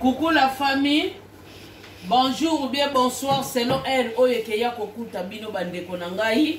Coucou la famille. Bonjour ou bien bonsoir selon heure oyo ekeya kokuta bino bandeko na ngai.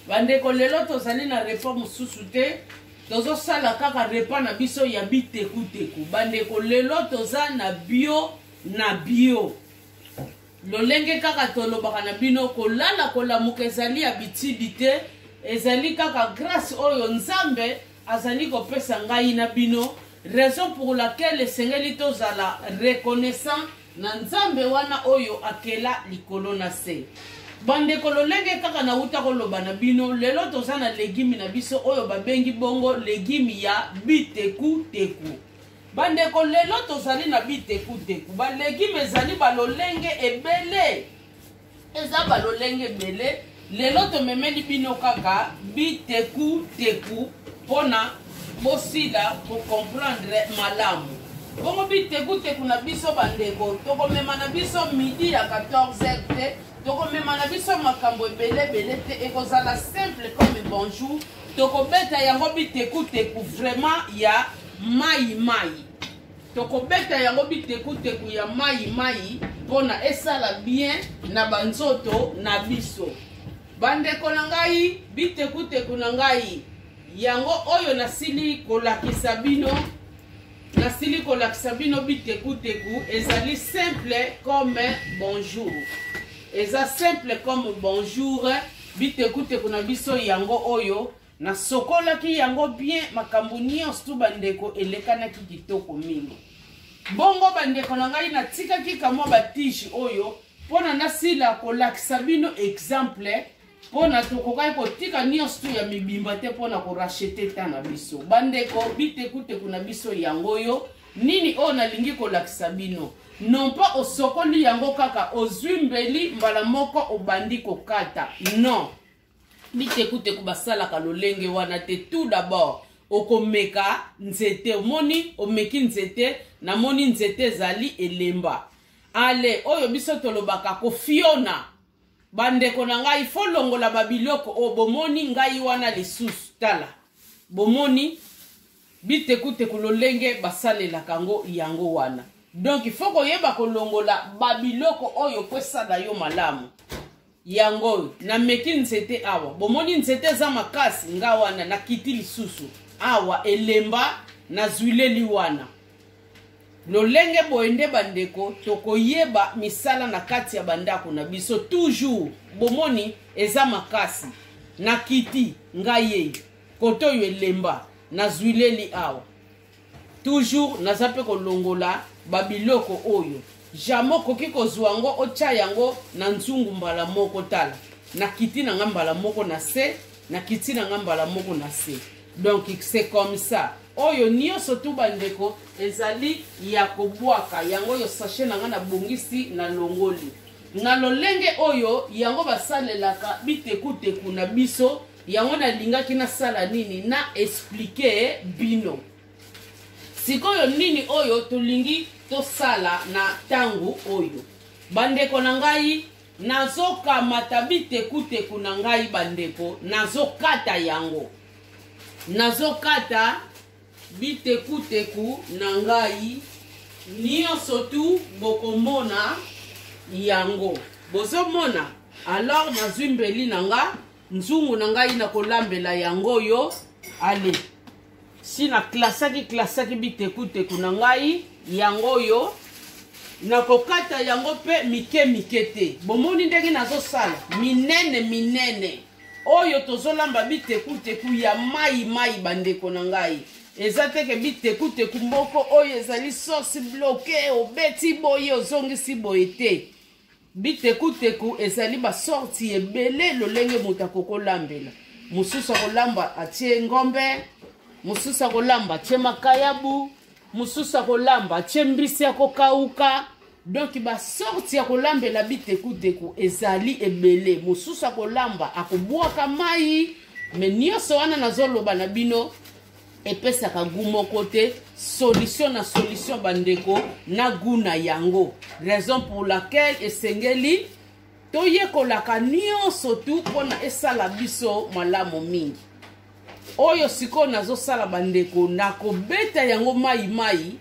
Bandeko lelo tozali na repas mosusu te. Tozosala kaka repas na biso ya bitekuteku. Bandeko lelo toza na bio na bio. Lolenge kaka tolobaka na bino kolala kolamuka ezali ya bitidi te. Ezali kaka grâce oyo Nzambe azali kopesa ngai na bino raison pour laquelle esengeli tozala reconnaissant na nzambe wana oyo akela likolo na se bandeko lolenge kaka nauta koloba na bino lelo toza na legimi na biso oyo babengi bongo legimi ya bitekuteku bandeko lelo tozali na bitekuteku balegime ezali balolenge ebele eza balolenge ebele lelo tomemeli bino kaka biteku teku mpona bosila kocomprendre malamu bongo biteku teku na biso bandeko tokomema na biso midi ya 14 te tokomema na biso makambo ebele ebele te ekozala simple comme bonjour tokobeta yango biteku teku vraiment ya mai mai tokobeta yango bitekuteku ya mayi mayi mpona esala bien na banzoto na biso bandeko na ngai bitekuteku na ngai yango oyo nasili kolakisa bino nasili kolakisa bino bitekuteku ezali simple comme bonjour eza simple comme bonjour bitekuteku na biso yango oyo nasokolaki yango bien makambo nyonso tu bandeko elekanaki kitoko mingi bongo bandeko na ngai natikaki kamwa batige oyo mpo na nasila kolakisa bino exemple mpo na tokokaki kotika nyonso tu ya mibimba te mpo na korachete ta na biso bandeko bitekuteku na biso yango oyo nini oyo nalingi kolakisa bino non pas osokoli yango kaka ozwi mbeli mbala moko obandi kokata non mitekuteku basalaka lolenge wana te tout d'abord okomeka nzete omoni omeki nzete namoni nzete ezali elemba ale oyo biso tolobaka kofiona bandeko na ngai fo longola babiloko oyo bomoni ngai wana lisusu tala bomoni bitekuteku lolenge basalelaka yango yango wana donk fo koyeba kolongola babiloko oyo kwesala yo malamu yango oyo nameki nzete awa bomoni nzete eza makasi nga wana nakiti lisusu awa elemba nazwileli wana lolenge boye nde bandeko tokoyeba misala na kati ya bandako na biso toujours bomoni eza makasi nakiti ngai yei kote oyo elemba nazwileli awa toujours naza mpe kolongola babiloko oyo jamai okoki kozwa yango otya yango na nzungu mbala moko tala nakiti na nga mbala moko na se nakiti na nga mbala moko na se donc c'est comme ça oyo nyonso tu bandeko ezali ya kobwaka yango oyo sachet na nga nabongisi na longoli na lolenge oyo yango basalelaka bitekuteku na biso yango nalingaki nasala nini na explike bino sikoyo nini oyo tolingi tosala na ntango oyo bandeko na ngai nazokamata bitekuteku na ngai bandeko nazokata yango nazokata bitekuteku na ngai nyonso tu bokomona yango bozomona alors nazwi mbeli na nga nzungu na ngai nakolambela yango oyo ale si naklasaki klasaki bitekuteku na ngai yango oyo nakokata yango mpe mike mike te bomoni ndenge nazosala minene minene oyo tozolamba bitekuteku ya mai mai bandeko na ngai eza teke bitekuteku moko oyo ezali sosi bloke obeti boye ozongisi boye te Bitekuteku ezali basorti ebele lolenge moto akoki kolambela. Mosusu akolamba atie ngombe, mosusu akolamba atie makayabu, mosusu akolamba atie mbisi ya kokauka. donki basorti ya kolambela bitekuteku ezali ebele mosusu akolamba akobwaka mai me nyonso wana nazoloba na bino epesaka gu moko te solution na solution bandeko na gu na yango raison pour laquelle esengeli toyekolaka nyonso tu mpo na esala biso malamu mingi oyo sikoyo nazosala bandeko nakobeta yango mai mai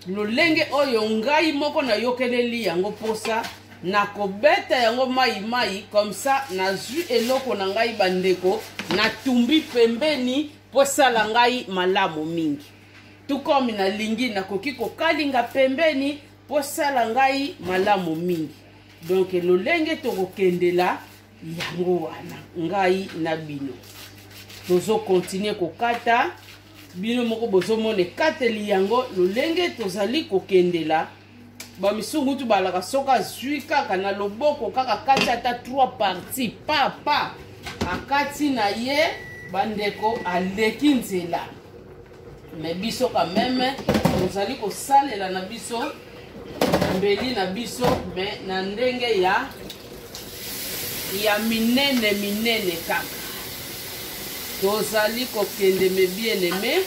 lolenge oyo ngai moko nayokeleli yango mposa nakobeta yango mai mai comme ça nazwi eloko na ngai bandeko natumbi pembeni mpo esala ngai malamu mingi tukomi nalingi nakoki kokalinga pembeni mpo esala ngai malamu mingi donk lolenge tokokendela yango wana ngai na bino tozokontinue kokata bino moko bozomona ekateli yango lolenge tozali kokendela bamisungu tu balaka soki azwi kaka na loboko kaka kati ata trois parti papa akati na ye bandeko aleki nzela me biso quand meme tozali kosalela na biso mbeli na biso me na ndenge ya ya minene minene kaka tozali kokende me bien aime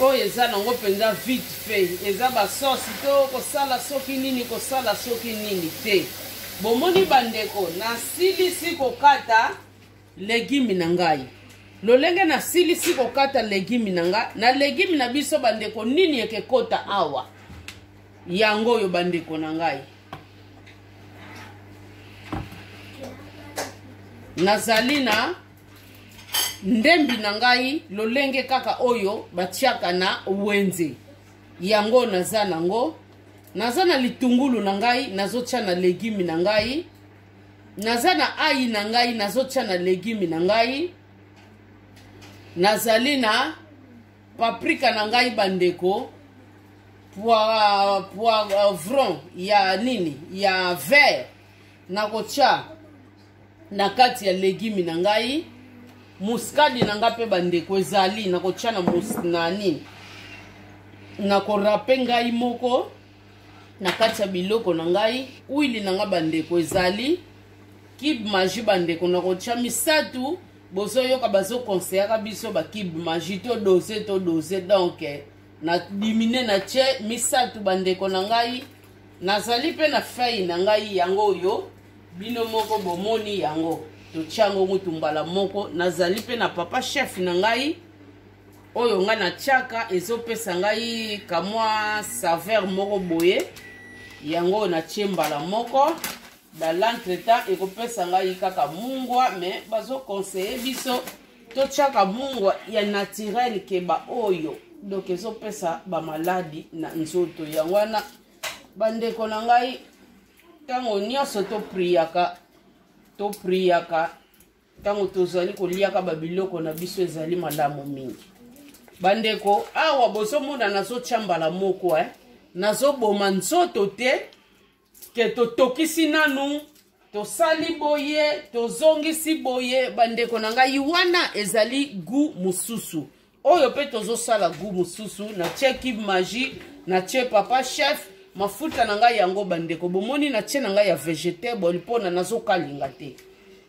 oyo eza nango mpenza vite fait eza basosi to kosala soki nini kosala soki nini te bomoni bandeko nasilisi kokata legimi na ngai lolenge nasilisi kokata legimi na ngai na legimi na biso bandeko nini ekekota awa yango oyo bandeko na ngai nazali na ndembi na ngai lolenge kaka oyo batiaka na wenze yango naza nango naza na litungulu na ngai nazotya na legimi na ngai naza na ai na ngai nazotya na legime na ngai nazali na paprika na ngai bandeko poivron euh, ya nini ya vert nakotya na kati ya legime na ngai muskadi na ngai mpe bandeko ezali nakotya na, na nini nakorape ngai moko na kati ya biloko na ngai wili na ngai bandeko ezali kibe magi bandeko na kotya misato bozoyoka bazokonseyaka biso bakibe magi to dose to dose donk eh, na dimine na tye misato bandeko na ngai nazali mpe na fei na ngai yango oyo bino moko bomoni yango totyango mutu mbala moko nazali mpe na papa chef na ngai oyo ngai natyaka ezopesa ngai kamwa saveur moko boye yango oyo natye mbala moko dans l'entretemps ekopesa ngai kaka mungwa me bazoconseille biso totyaka mungwa ya naturel ke baoyo donk ezopesa bamaladi na nzoto yango wana bandeko na ngai ntango nyonso topriyaka topriyaka ntango tozali koliaka babiloko na biso ezali malamu mingi bandeko awa bozomona nazotya mbala moko eh? nazoboma nzoto te ke totokisi nanu tosali boye tozongisi boye bandeko na ngai wana ezali gu mosusu oyo mpe tozosala gu mosusu natie kibe magie natie papa chef mafuta na ngai yango bandeko bomoni natie na ngai ya vegetable mpona nazokalinga te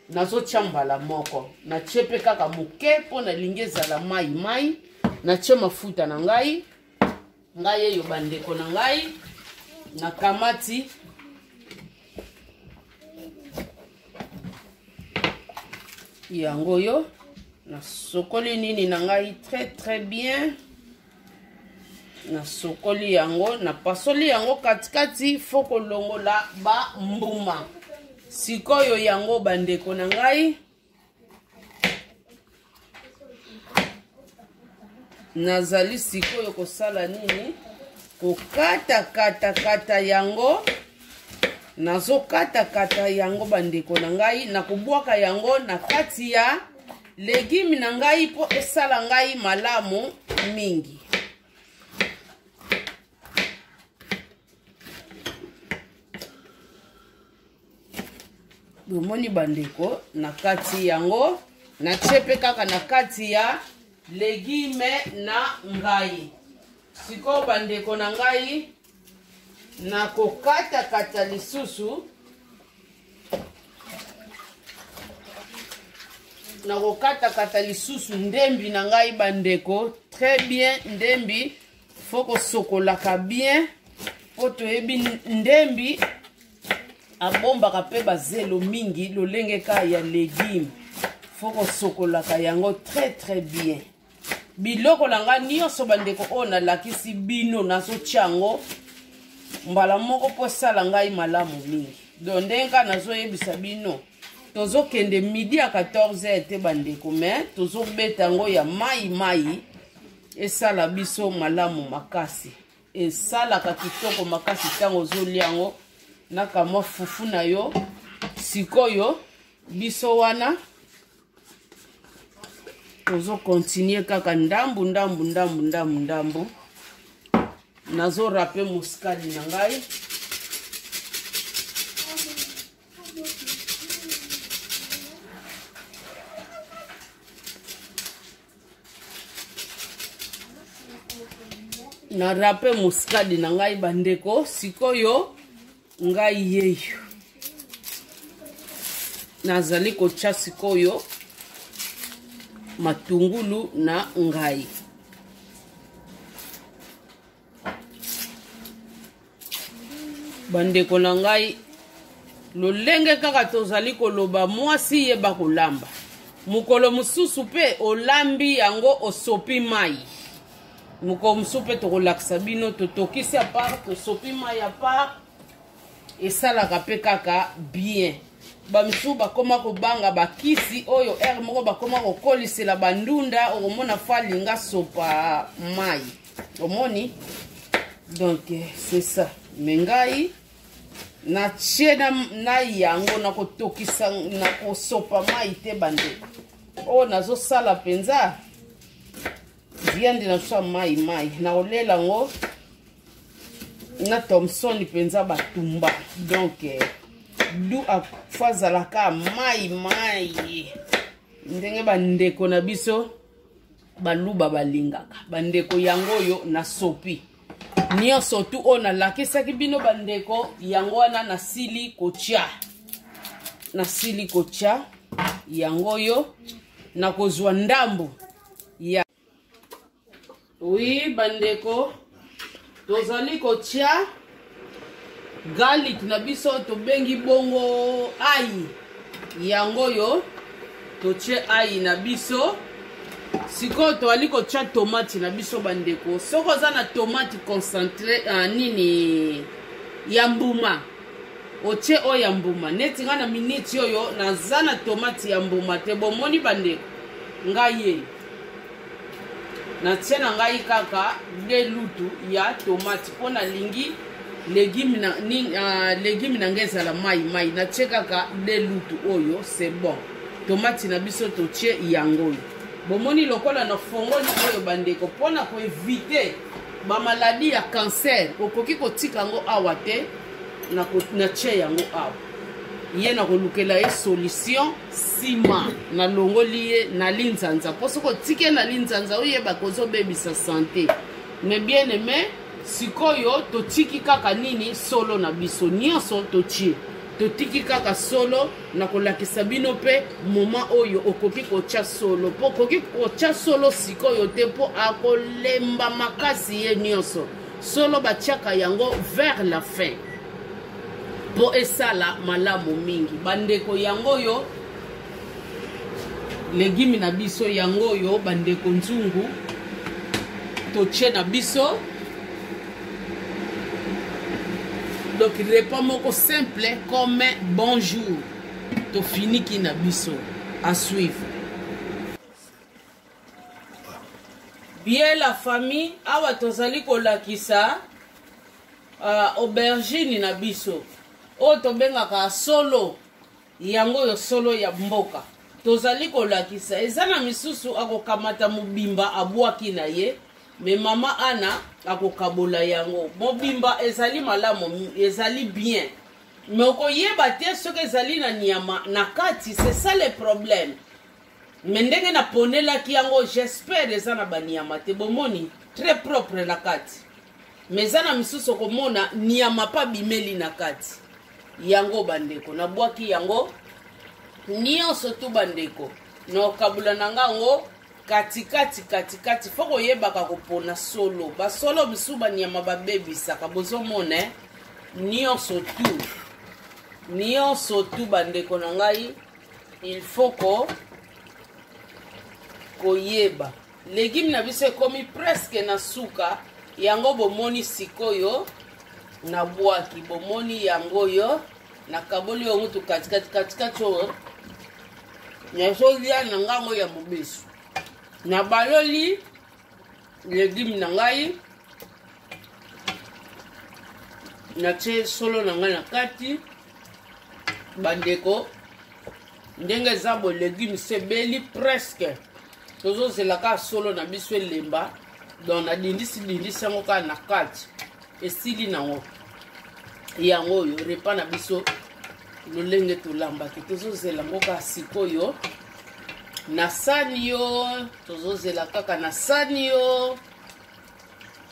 nazotya mbala moko natie mpe kaka moke mpo nalingi ezala mai mai natie mafuta na ngai ngai yeyo bandeko na ngai nakamati yango oyo nasokoli nini na ngai très très bien nasokoli yango napasoli yango katikati fo kolongola bambuma sikoyo yango bandeko na ngai nazali sikoyo kosala nini kokatakatakata yango nazokatakata yango bandeko na ngai nakobwaka yango na kati ya legime na ngai mpo esala ngai malamu mingi bomoni bandeko na kati yango natie mpe kaka na kati ya legime na ngai sikoyo bandeko na ngai nakokatakata lisusu nakokatakata lisusu ndembi na ngai bandeko très bien ndembi fo kosokolaka bien mpo toyebi ndembi abombaka mpe bazelo mingi lolenge ka ya legume fo kosokolaka yango très très bien biloko na ngai nyonso bandeko oyo nalakisi bino nazotya yango mbala moko mpo esala ngai malamu mingi don ndenge kaka nazoyebisa bino tozokende midi ya 14 te bandeko me tozobeta yango ya mai mai esala biso malamu makasi esalaka kitoko makasi ntango ozolia yango na kamwa fufu na yo sikoyo biso wana tozokontinue kaka ndambu ndambu ndambu ndambu ndambu nazorape moskali na ngai na rape muskadi na ngai bandeko sikoyo ngai yeyo nazali kotya sikoyo matungulu na ngai bandeko na ngai lolenge kaka tozali koloba mwasi yeba kolamba mokolo mosusu mpe olambi yango osopi mai mokolo mosusu mpe tokolakisa bino totokisi apart tosopi mai apart esalaka mpe kaka bien bamisusu bakoma kobanga bakisi oyo ere moko bakoma kokolisela bandunda okomona falinga sopa mai omoni donc c'est ça me ngai natie na, na yango nakotokisa nakosopa mai te bande oyo oh, nazosala mpenza viande nazosala mai mai nakolela yango na thomson mpenza batumba donc eh, du afo azalaka mai mai ndenge bandeko na biso baluba balingaka bandeko yango oyo nasopi nyonso tu oyo nalakisaki bino bandeko yango wana nasili kotya nasili kotya yango oyo nakozwa ndambo ya wi bandeko tozali kotya garlic na biso tobengi bongo ayi yango oyo totye ayi na biso sikoyo toali kotya tomati na biso bandeko soki oza na tomati concentre uh, nini ya mbuma otye oyo ya mbuma neti ngai na miniti oyo naza na tomati ya mbuma te bomoni bandeko ngai ye natie na ngai kaka de lutu ya tomate mpo nalingi legume na, ni, uh, legume na ngai ezala mai mai natie kaka de lutu oyo c'est bon tomate na biso totie yango oyo bomoni lokola na fongoli oyo bandeko mpo na koevite bamaladi ya cancer okoki kotika yango awa te natie yango awa ye nakolukela ye solution nsima nalongoli ye na linzanza mpo soki otike na linzanza oyeba kozobebisa sante me bien aime sikoyo totiki kaka nini solo na biso nyonso totie totiki kaka solo na kolakisa bino mpe moma oyo okoki kotya solo mpo okoki kotya solo sikoyo te mpo akolemba makasi ye nyonso solo batyaka yango vers la fin mpo esala malamu mingi bandeko yango oyo legimi na biso yango oyo bandeko nzungu totie na biso donc repas moko simple comme bonjour tofiniki na biso à suivre bien la famille awa tozali kolakisa uh, aubergine na biso oyo tobengaka solo yango oyo solo ya mboka tozali kolakisa eza na misusu akokamata mobimba abwaki na ye me mama ana akokabola yango mobimba ezali malamu ezali bien me okoyeba te soki ezali na nyama na kati c'est ça le problème me ndenge naponelaki yango jespere eza na baniama te bomoni très propre na kati me eza na misusu okomona niama mpe abimeli na kati yango bandeko nabwaki yango nyonso tu bandeko na okabula na nga yango katikati katikati fo koyebaka kopona solo basolo misusu baniama babebisaka bozomona eh? nyonso tu nyonso tu bandeko na ngai il faut ko koyeba legime na biso ekomi preske na suka yango bomoni sikoyo nabwaki bomoni yango oyo nakaboli yango tu katikati katikati oyo nazolia na ngango ya mobesu nabaloli legime na ngai natie solo na ngai na kati bandeko ndenge eza bo legume sebeli presque tozozela kaka solo na biso elemba donc nadindisi dindisi yango kaka na kati esili nango yango oyo repa na biso lolenge tolambaki tozozela yango kaka sikoyo na sani yo tozozela kaka na sani yo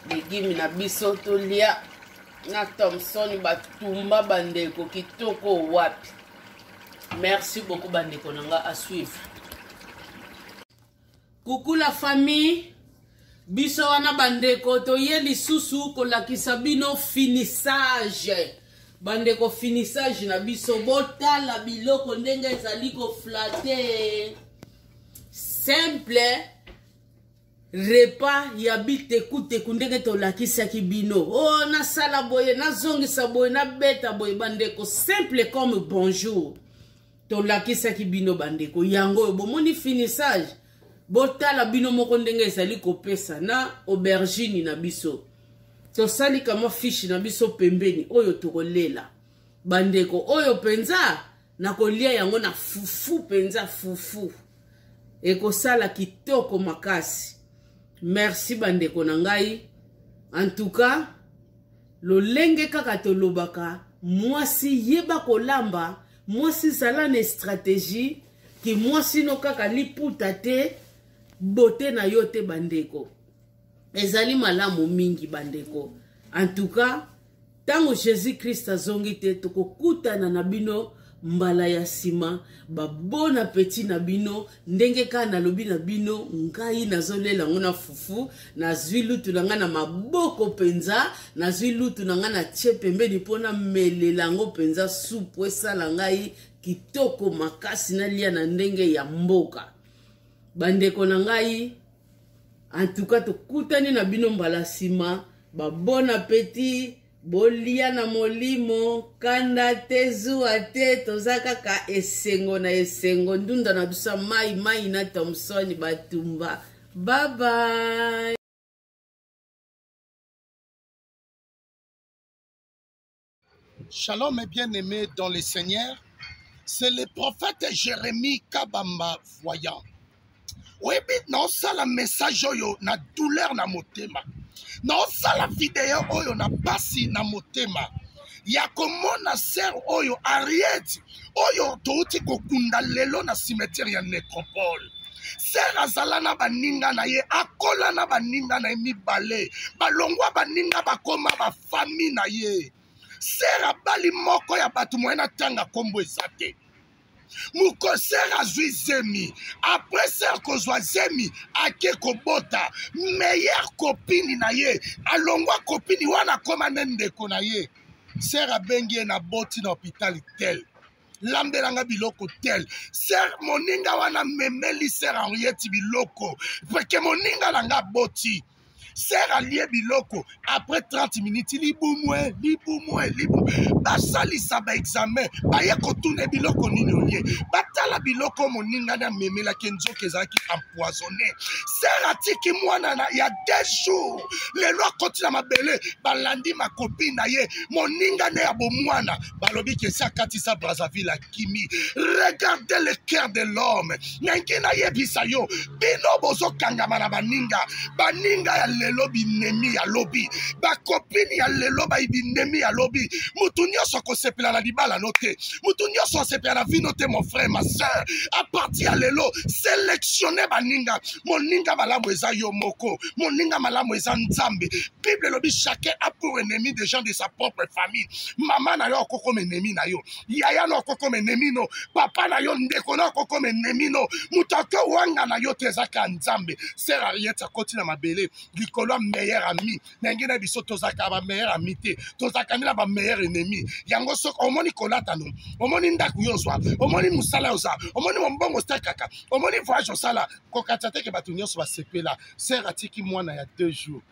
legime na biso tolia na thomson batumba bandeko kitoko wapi merci beaucoup bandeko na nga asuivre kuku la famille biso wana bandeko toye lisusu kolakisa bino finissage bandeko finissage na biso botala biloko ndenge ezali koflate simple repas ya bitekuteku ndenge tolakisaki bino o oh, nasala boye nazongisa boye nabeta boye bandeko simple comme bonjour tolakisaki bino bandeko yango oyo bomoni finissage botala bino moko ndenge ezali kopesa na aubergine na biso tosali kamwa fishi na biso pembeni oyo tokolela bandeko oyo mpenza nakolia yango na fufu mpenza fufu ekosala kitoko makasi merci bandeko na ngai en tout cas lolenge kaka tolobaka mwasi yeba kolamba mwasi zala na estrategie ki mwasi no kaka liputa te bote na yo te bandeko ezali malamu mingi bandeko en tout cas ntango jesus krist azongi te tokokutana na bino mbala ya nsima babona peti na bino ndenge kaka nalobi na bino ngai nazolela yango na fufu nazwi lutu na ngai na maboko mpenza nazwi lutu na ngai na tie pembeni mpo namelela yango mpenza supu esala ngai kitoko makasi nalia na ndenge ya mboka bandeko na ngai antuka tokutani na bino mbala nsima babon appetit bolia na molimo kanda te zuwa te toza kaka esengo na esengo ndunda na biso mai mai na thomson batumba babai Shalom et bien-aimé dans le Seigneur. C'est le prophète Jérémie Kabamba voyant. oyebi naosala message oyo na douleur na motema naosala video oyo na mpasi na motema ya komona ser oyo ariete oyo touti kokunda lelo na cimetière ya necropole ser azala na baninga na ye akola na baninga na ye mibale balongwa baninga bakoma baf fami na ye sere abali moko ya bato moye na ntanga nkombo eza te mokosere azwi zemi apres sere kozwa zemi ake kobota meilleur kopini na ye alongwa kopini wana akoma nde ndeko na ye sere abengi ye na boti na hopitali tel lambelanga biloko tel ser moninga wana memeli ser henriette biloko peke moninga na nga boti ser alie biloko après 30 minutes libumue libumue libu basalisa baexamen baye kotuna biloko nini olie batala biloko moningani amemelaki nzoka ezalaki empoisonne ser atiki mwana na ya deux jours lelo akoti na mabele balandi makopi na ye moningane ya bomwana balobi kesi akatisa brazzaville bakimi regarde le cœur de l'homme nanki nayebisa yo bino bozokangama na baninga baninga ya lelo binemi ya lobi bakopini ya lelo bai binemi ya lobi motu nyonso akosepela na libala no te motu nyonso asepela na vino te mon frère ma sœur a partir ya lelo selectionne baninga moninga malamu eza yo moko moninga malamu eza nzambe bible elobi chacun a pour ennemi des gens de sa propre famille mama na yo akokoma ennemi na yo yaya no akokoma enemi no papa na yo ndeko no akokoma enemi no moto akowanga na yo te ezaka nzambe ser ariete akoti na mabele likolo ya meilleur ami ndenge na biso tozalaka ba meilleur ami te tozalaka nde na ba meilleur ennemi yango soki omoni kolata no omoni ndako yo ozwa omoni mosala yo oza omoni mombongo otekaka omoni voyage osala kokatisa te ke bato nyonso basepela ser atiki mwana ya deux jours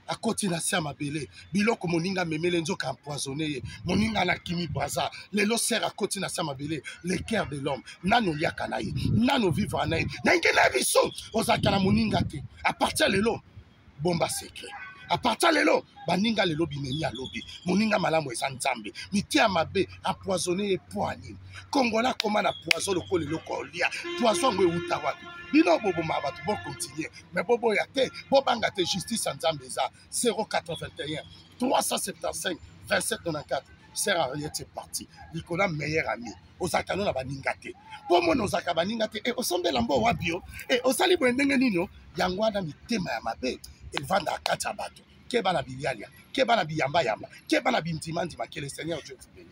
akoti na se ya mabele biloko moninga amemele nzoka empoisonne ye moninga na kimi braza lelo ser akoti na se ya mabele le cœur de l'homme nani oliaka na ye nani ovivra na ye ndenge na biso ozalaka na moninga te apartir lelo bomba secret apartir lelo baninga lelo binemi ya lobi moninga malamu eza nzambe mite ya mabe empoisonne ye mpo nini kongola akoma na poison lokola eloko olia poison yango euta wapi bino boboma bato bokontinue me boboya te bobanga te justice ya nzambe eza 081 375 2794 sert à rien c'est parti likolo ya meilleur ami ozalaka no na baninga te mpo mona ozalaka baninga te e osombela mbo wapi yo e osali boye ndenge nini yo yango wana mitema ya mabe evandaka kati ya bato keba na bilialia keba na biyambayamba keba na bindimandima que le seigneur dieu vous bénisse